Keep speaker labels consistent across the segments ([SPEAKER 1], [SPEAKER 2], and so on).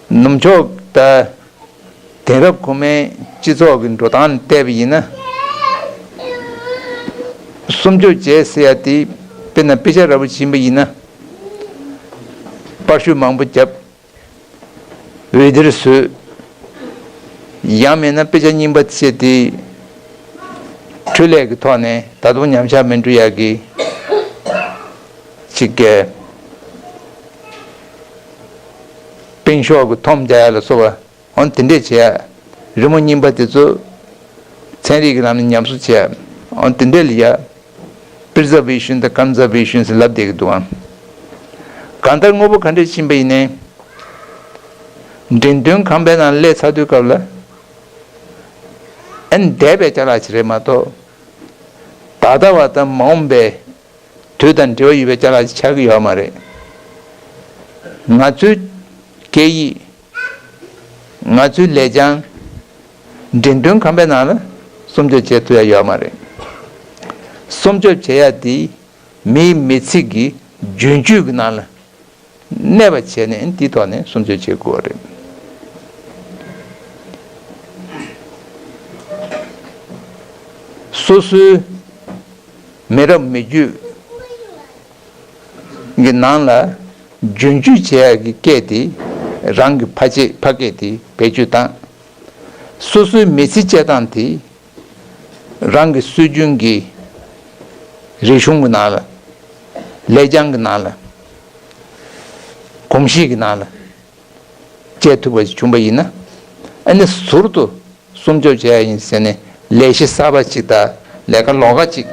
[SPEAKER 1] ནུབ་ཕྱོགས་ལྟར། དེང་རབས་གོང་མའི་སྤྱི་ཚོགས་ཀྱི་འགྲོ་སྟངས་བལྟས་པ་ཡིན་ན། གསུམ་བཅོ་བརྒྱད་ཟེར་ཡ་དེ་དཔེར་ན་དཔེ་ཆ་ར་བུ་བྱིན་པ་ཡིན་ན། པར་བཤུས་མང་པོ་བརྒྱབ། འོད་སྡེར་བཟོས། ཡང་མེད་ན་དཔེ་ཆ་རྙིང་པ་བཙལ་ཏེ། འཕྲུལ་ལས་ཀྱི་ཐོག་ནས་ད་དུང་ཉམས་ཆག་མི་འབྲུ་ཡག་གི། ཅིག་བཀལ། སྟེང་ཤོག་གི་ཐོམ་བརྒྱ་ཡར་ལ་གསོ་བ། འོན་དེ་འདྲས་བྱས། རི་མོ་རྙིང་པ་དེ་ཚོ། ཚན་རིག་གི་ལམ་ནས་ཉམས་གསོ་བྱས། འོན་དེ་འདྲས་ལ་ཡ། པིར་ཛ་བི་ཤུན་དང་ཀམ་ཛ་བི་ཤུན་ཟེར་ལབ་བསྡད་ཀྱི་འདུག་ཨང། གང་ལྟར་དངོས་པོ་ག་འདྲས་ཕྱིན་པ་ཡིན། འགྲེང་སྟོན་ཁང་པའི་ནང་ལས་ཚགས་དུས་སྐབས་ལ། ཨེ་འདས་པའི་ཆ་ལག་ཅིག་རེད་མ་གཏོགས། ད་ལྟ་བ་དང་མ་འོངས་པའི། དུས་དང་འབྲེལ་བ་ཡོད་པའི་ཆ་ལག་ཅིག་ཆགས་ཀྱི་ཡོད་མ་རེད། ང་ཚོའི། སྐད་ཡིག། ང་ཚོའི་ལས་བྱང་འགྲེམས་སྟོན་ཁང་པའི་ནང་ལ་སྲུང་སྐྱོབ་བྱེད་ཐུབ་ཡ་ཡོད་མ་རེད། སྲུང་སྐྱོབ་བྱེད་ཡ་དེ་མིའི་མི་ཚིག་གི་རྒྱུན་སྤྱོད་ཀྱི་ནང་ལ་གནས་པ་བྱས་ནས་དེའི་ཐོག་ནས་སྲུང་སྐྱོབ་བྱེད་དགོས་རེད། སོ་སོའི་མི་རབས་མི་རྒྱུད་གི་ནང་ལ་རྒྱུན་སྤྱོད་བྱེད་ཡག་གི་སྐད་དེ་རང་གི་ཕ་ཆེ་ཕ་སྐད་དེ་བེད་སྤྱོད་དང། སོ་སོའི་མི་ཚེ་སྤྱད་སྟངས་དེ་རང་གི་སྲོལ་རྒྱུན་གྱི་རིག་གཞུང་གི་ནང་ལ། ལེགས་བྱང་གི་ནང་ལ། གོམས་གཤིས་ཀྱི་ནང་ལ་སྤྱད་ཐུབ་པ་ཞིག་བྱུང་པ་ཡིན་ན། ཨ་ནི་ཟུར་དུ་སྲུང་སྐྱོབ་བྱེད་ཡག་ཡིན་ཟེར་ནས་ལས་གཞི་གསར་པ་ཞིག་དང་ལས་ཀ་ལོག་ཀ་ཅིག་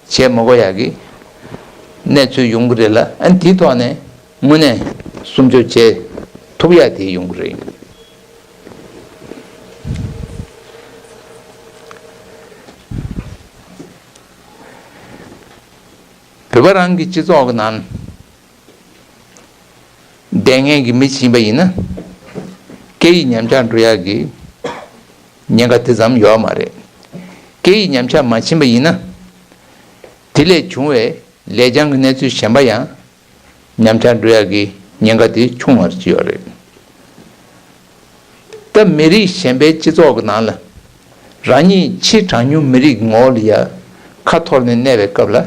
[SPEAKER 1] བྱས་མོ་གོ་ཡག་གི་གནས་ཚུལ་ཡོང་གི་རེད་ལ་ཨན་དེའི་ཐོག་ནས་དངོས་གནས་སུམ་ཅུ་བྱས་ཐུབ་ཡག་དེ་ཡོང་གི་རེད་ཡིན། བོད་པ་རང་གི་སྤྱི་ཚོགས་ཀྱི་ནང། ལྡན་ངན་གྱི་མི་བྱིན་པ་ཡིན་ན། སྐད་ཡིག་ཉམས་ཆག་འགྲོ་ཡག་གི། ཉེན་ཁ་དེ་ཙམ་ཡོད་མ་རེད། སྐད་ཡིག་ཉམས་ཆག་མ་བྱིན་པ་ཡིན་ན། དེ་ལས་བྱུང་བའི་ལས་བྱང་གི་གནས་ཚུལ་གཞན་པ་ཡང་ཉམས་ཆག་འགྲོ་ཡག་གི་ཉེན་ཁ་དེ་ཆུང་བར་བྱེད་ཡོད་རེད། སྐབས་མི་རིགས་གཞན་པའི་སྤྱི་ཚོགས་ཀྱི་ནང་ལ་རང་ཉིད་ཕྱིར་གྲངས་ཉུང་མི་རིགས་ངོ་ལ་ཡར་ཁ་འཐོར་ནས་གནས་པའི་སྐབས་ལ་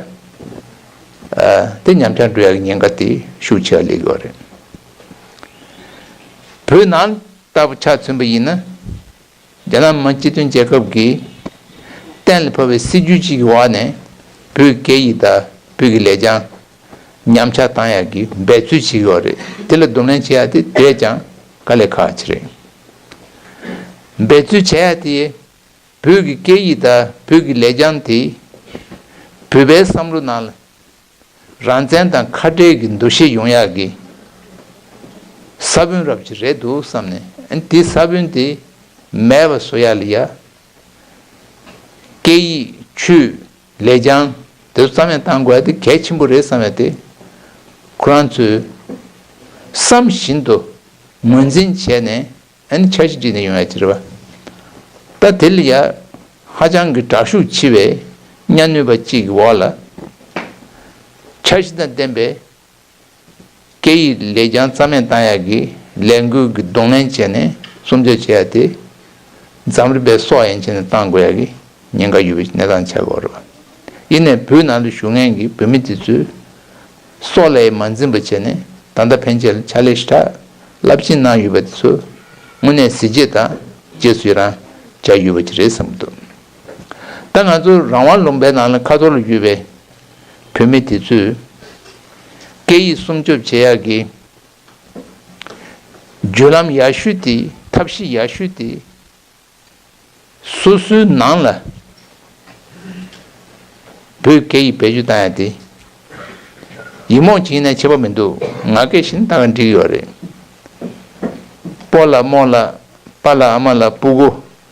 [SPEAKER 1] དེ་ཉམས་ཆག་འགྲོ་ཡག་གི་ཉེན་ཁ་དེ་ཤུགས་ཆེ་བ་ལས་ཡོད་རེད། བོད་ནང་ལྟ་བུ་ཆ་མཚོན་པ་ཡིན་ན་རྒྱ་ནག་མི་སྤྱི་མཐུན་རྒྱལ་ཁབ་ཀྱིས་གཏན་ལ་ཕབ་པའི་སྲིད་ཇུས་གཅིག་གི་འོག་ནས་བོད་སྐད་ཡིག་དང་བོད་ཀྱི་ལེགས་བྱང་ཉམས་ཆག་བཏང་ཡག་གི་འབད་རྩོལ་བྱེད་ཀྱི་ཡོག་རེད་དེ་ལ་སྡུམ་ལན་བྱེད་ཡག་དེ་དེས་ཀྱང་དཀའ་ལས་ཁག་ཅི་རེད་འབད་རྩོལ་བྱེད་ཡག་དེ་བོད་ཀྱི་སྐད་ཡིག་དང་བོད་ཀྱི་ལས་རྐྱང་དེ་བོད་པའི་བསམ་བློ་ནང་རང་བཙན་དང་ཁ་བྲལ་གྱི་འདུ་ཤེས་ཡོང་ཡག་གི་ས་བོན་རབ་ཅིག་རེད་འདུག་བསམ་ནས་དེ་ས་བོན་དེ་མེད་པ་བཟོ་ཡག་ལ་ཡ་སྐད་ཡིག་ཆུས་ལས་ཀྱང་དེ་ཚོ་རྩ་མེད་གཏང་དགོས་དེ་གལ་ཆེན་པོ་རེད་བསམ་ཡོད་དེ། ཁོ་རང་ཚོས་བསམ་བཞིན་དུ་ངོས་འཛིན་བྱས་ནས་ཨནི་འཆར་གཞི་བྲིས་ནས་ཡོང་ཡ་ཅི་རེད་བ། ད་དེ་ལ་ཡ་ཧ་ཅང་གི་དྲག་ཤུགས་ཆེ་བའི་གཉའ་གནོད་པ་གཅིག་གི་འོག་ལ་འཆར་གཞི་དང་ལྡན་པའི་སྐད་ཡིག་ལས་ཀྱང་རྩ་མེད་བཏང་ཡག་གི་ལས་འགུལ་གྱི་གདོང་ལེན་བྱས་ནས་སུམ་བརྗོད་བྱེད་ཡག་དེ། འཛམ་རིག་པའི་སྲོག་ཡན་ཆད་ནས་བཏང་དགོས་ཡག་གི་ཉེན་ཁ་ཡོད་པའི་གནས་སྟངས་ཆགས་དགོས་རེད། ཡིན་ནས་བོད་ནང་དུ་ཞུགས་མཁན་གྱི་བོད་མི་དེ་ཚོས་སྲོག་ལས་མ་འཛིན་པ་བྱས་ནས་ད་ལྟ་ཕན་ཆད་ཕྱག་ལས་ཧྲིལ་ཕྲ་རླབས་ཆེན་གནང་ཡོད་པ་དེ་ཚོ་དངོས་གནས་གཟི་བརྗེད་དང་རྗེས་སུ་ཡི་རང་བྱ་ཡོད་པ་ཅིག་རེད་བསམ་གྱི་འདུག་ད་ང་ཚོ་རང་དབང་ལུང་པའི་ནང་ལ་ཁ་ཐོར་ལ་ཡོད་པའི་བུད་མེད་དེ་ཚོས་སྐད་ཡིག་སྲུང་སྐྱོབ་བྱེད་ཡག་གི། བརྒྱུད་ལམ་ཡག་ཤོས་དེ་ཐབས་ཤེས་ཡག་ཤོས་དེ། སོ་སོའི་ནང་ལ་བོད་སྐད་ཡིག་བེད་སྤྱོད་བཏང་ཡག་དེ། ཡིག་རྨོངས་བྱིན་ནས་ཆད་པ་མི་འདུག་ང་སྐད་བཞིན་བཏང་བས་འགྲིག་ཡོད་རེད། སྤོ་ལ་རྨོ་ལ་སྤ་ལ་ཨ་མ་ལ་སྤུ་གུ་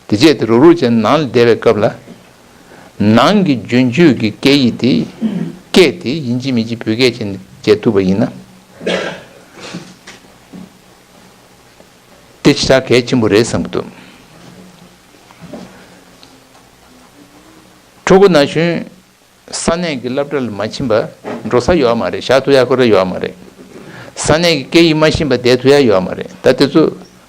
[SPEAKER 1] དེ་རྗེས་དེ་རུག་རུག་ཅན་ནང་ལ་བསྡད་པའི་སྐབས་ལ། ནང་གི་རྒྱུན་སྤྱོད་ཀྱི་སྐད་ཡིག་དེ། སྐད་དེ་ཡིན་གཅིག་མིན་གཅིག་བོད་སྐད་ཅན་བྱེད་ཐུབ་པ་ཡིན་ན། དེ་ཇི་ལྟར་གལ་ཆེན་པོ་རེད་བསམ་གྱི་འདུག། ཕྲུ་གུ་ན་གཞོན་ས་གནས་ཀྱི་སླབ་གྲ་ལ་མ་ཕྱིན་པ་འགྲོ་ས་ཡོད་མ་རེད་བཞག་ཐུ་ཡ་ཁོ་རེ་ཡོད་མ་རེད། ས་གནས་ཀྱི་སྐད་ཡིག་མ་ཤིན་པ་བསྡད་ཐུ་ཡ་ཡོད་མ་རེད་ད་དེ་ཚོ་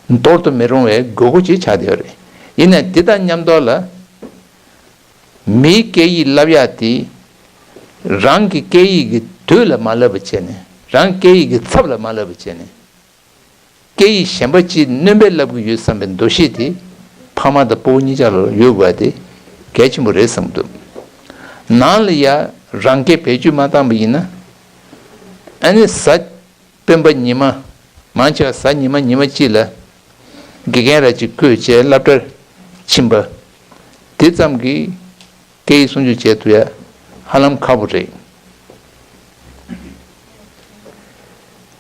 [SPEAKER 1] འདོར་དུ་མི་རུང་བའི་དགོས་མཁོ་ཅིག་ཆགས་བསྡད་ཡོད་རེད་ཡིན་ནས་དེ་དང་མཉམ་འདོར་ལ། མིའི་སྐད་ཡིག་བསླབ་ཡག་དེ་རང་གི་སྐད་ཡིག་གི་དུས་ལ་མ་བསླབ་པ་བྱས་ནས་རང་སྐད་ཡིག་གི་ཚབ་ལ་མ་བསླབ་པ་བྱས་ནས། སྐད་ཡིག་གཞན་པ་ཅིག་སྣོན་པའི་བསླབ་གི་ཡོད་བསམ་པའི་འདུ་ཤེས་དེ་ཕ་མ་དང་སྤོ་བོ་གཉིས་ཀྱང་ལ་ཡོད་དགོས་པ་དེ་གལ་ཆེན་པོ་རེད་བསམ་འདུག་ནང་ལ་ཡང་རང་སྐད་བེད་སྤྱོད་མ་བཏང་པ་ཡིན་ན་ཨ་ནེ་བཟའ་སྤེན་པ་ཉི་མ་མང་ཆེ་བ་བཟའ་ཉི་མ་ཉི་མ་གཅིག་ལ་དགེ་རྒན་ར་གཅིག་བསྐོས་བྱས་བསླབ་གྲྭར་ཕྱིན་པ་དེ་ཙམ་གྱིས་སྐད་ཡིག་སྲུང་སྐྱོབ་བྱས་ཐུབ་ཡ་ཧ་ལམ་ཁག་པོ་རེད།